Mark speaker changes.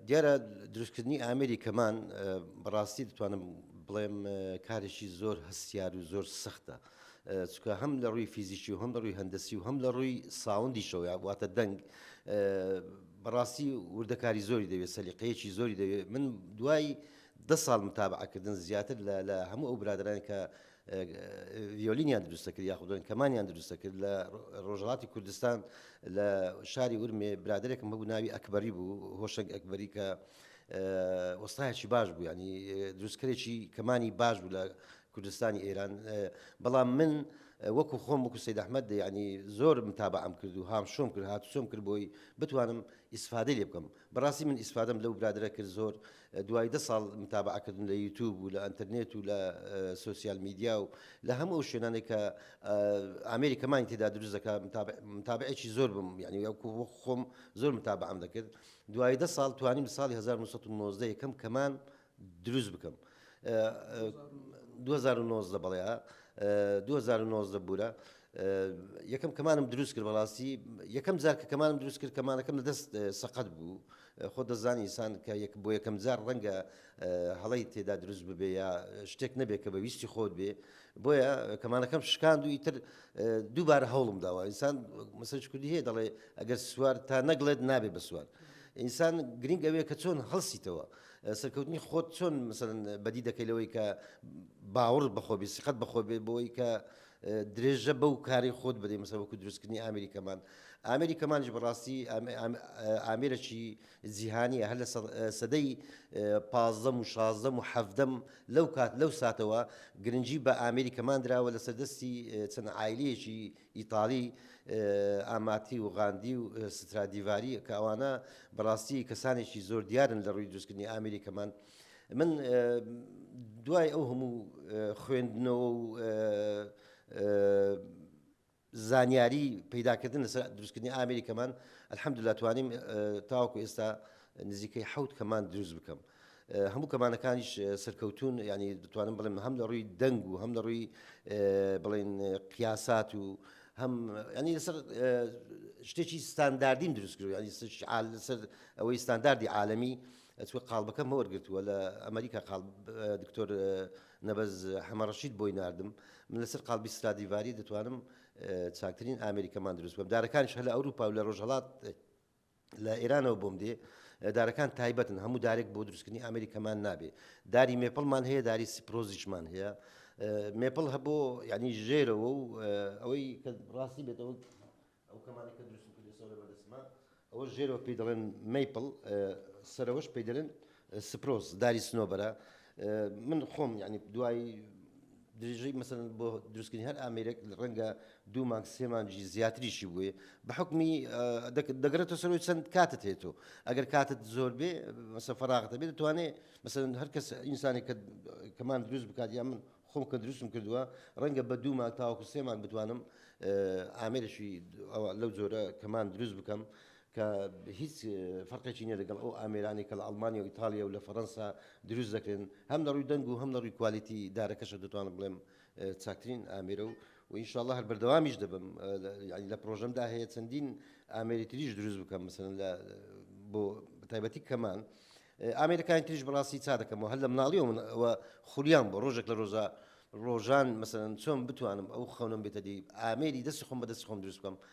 Speaker 1: دیارە دروستکردنی ئامێری کەمان بەڕاستی دەتوانم بڵێم کارێکی زۆر هەستیار و زۆر سەختە چکە هەم لە ڕووی فیزیکی و هەم لە ڕووی هەندەسی و هەم لە ڕووی ساوندیشەوە واتە دەنگ بەڕاستی وردەکاری زۆری دەوێت سەلیقەیەکی زۆری دەوێت من دوای ده ساڵ متابعکردن زیاتر لە هەموو ئەو برادران کە ڤیۆلینیان دروستە کرد یاخودن کەمانیان دروستە کرد لە ڕۆژهڵاتی کوردستان لە شاری ورمێ برادێکم هەبوو ناوی ئەکبەری بوو هۆشەک ئەکبەری کە وەستایەکی باش بوو ینی دروستکرێکی کەمانی باش بوو لە کوردستانی ئێران بەڵام من وەکو خۆم وەکو سید ئەحمد ینی زۆر متابعم کرد و هام شۆم کرد هاتوچۆم کرد بۆی بتوانم ئیسفادە لێ بکەم بەڕاستی من ئیسفادەم لەو برادەرە کرد زۆر دوای دە ساڵ متابعە کردن لە یوتوب و لە ئەنتەرنێت و لە سوسیال میدیا و لە هەموو ئەو شوێنانێک کە ئامێری کەمانی تێدا دروست دەکە متابعێکی زۆر بم یعنی خۆم زۆر متابعام دەکرد دوای دە ساڵ توانیم ساڵی 1990 یەکەم کەمان دروست بکەم دوو هەزار و نۆزدە بەڵێ دوو هەزار و نۆزدە بوورە یەکەم کەمانم دروست کرد بەڵاستی یەکەم جار کە کەمانم دروست کرد کەمانەکەم لە دەست سەقەت بوو خۆ دەزانی ئسان کە یەک بۆ یەکەم جار ڕەنگە هەڵی تێدا دروست ببێ یا شتێک نەبێت کە بە ویستی خۆت بێ بۆیە کەمانەکەم شکاند و ئیتر دووبارە هەوڵم داوە ئینسان مەسەج کوردی هەیە دەڵێ ئەگەر سوار تا نەگڵێت نابێ بە سوار. ئینسان گرنگ ئەوەیە کە چۆن هەڵسیتەوە سەرکەوتنی خۆت چۆن مەسەلەن بەدی دەکەی لەوەی کە باوەڕ بەخۆ بێ سیقەت بەخۆ بێ بۆی کە درێژە بەو کاری خۆت بدەی مەسەوەکو دروستکردنی ئامری کەمان ئامری کەمانش بەڕاستی ئامرەکی جیهانیە هەر لە سەدەی پازدەم و شازدەم و حەفدەم لەو کات لەو ساتەوە گرنگجی بە ئامری کەمان دراوە لە سەردەستی چەند ئایلەیەکی ئیتاڵی، ئاماتی و غاندی و سترادیڤاری، کە ئەوانە بەڕاستی کەسانێکی زۆر دیارن لە ڕووی دروستکردنی ئامێری کەمان. من دوای ئەو هەموو خوێندنەوە و زانیاری پەیداکردن لەسەر دروستکردنی ئامێری کەمان، الحەمدللە توانیم تاوەکو ئێستا نزیکەی حەوت کەمان دروست بکەم. هەموو کەمانەکانیش سەرکەوتوون ینی دەتوانم بڵێم هەم لە ڕووی دەنگ و هەم لە ڕووی بڵین قیاسات و هەم ینی لەسەر شتێکی ستانداردیم دروستکرد ینی لەسەر ئەوەی ستانداردی عاالمی ئەچوە قالبەکەم هەوەرگرتووە لە ئەمریکا قال دکتۆر نەبەز حەمەڕەشید بۆی نردم من لەسەر قالبی ستادیڤری دەتوانم چاکترین ئامریکەمان دروست بم دارەکانش هەل ئەوروپا و لە ڕۆژهڵات لە ئێرانەوە بۆم دێ دارەکان تایبەتن هەموو دارێک بۆ دروستکردنی ئامری کەمان نابێ داری مێپڵمان هەیە داری سیپرۆزیشمان هەیە مێپڵ هەبوو ینی ژێرەوە و ئەوەی کە ڕاستی بێتەوە ئەو کەمانی کە دروست کردێسەوە لە بەردەسمە ئەوە ژێرەوە پێی دەڵێن میپڵ سەرەوەش پێی دەلێن سپرۆز داری سنۆبەرە من خۆم ینی دوای درێژەی مەسەلەن بۆ دروستکردنی هەر ئامێرێک ڕەنگە دوو مانگ سێ مانگی زیاتریشی بووێ بە حکمی دەگرێتەوە سەرۆی چەند کاتت هێتۆ ئەگەر کاتت زۆر بێ مەسە فراغتە بێت دەتوانێت مەسەن هەر کەس ئینسانی کە کەمان دروست بکات یا من خۆم کە دروستم کردووە ڕەنگە بە دوو مانگ تاوەکو سێمان بتوانم ئامێرشی لەو جۆرە کەمان دروست بکەم کە هیچ فەرقێکی نیە لەگەڵ ئەو ئامێرانەی کە لە ئەڵمانیا و ئیتاڵیا و لە فەرەنسا دروست دەکرێن هەم لە ڕووی دەنگ و هەم لە ڕووی کوالیتی دارەکەشە دەتوانم بڵێم چاکترین ئامێرە و و ئینشاءاللە هەر بەردەوامیش دەبم یعنی لە پرۆژەمدا هەیە چەندین ئامێری تریش دروست بکەم مثلا لە بۆ تایبەتی کەمان ئامێرەکانی تریش بەڕاستی چا دەکەمەوە هەر لە مناڵی و من ئەوە خولیان بۆ ڕۆژێک لە ڕۆژە ڕۆژان مەسەن چۆن بتوانم ئەو خەونم بێتە دی ئامێری دەست خۆم بە دەست خۆم دروست بکەم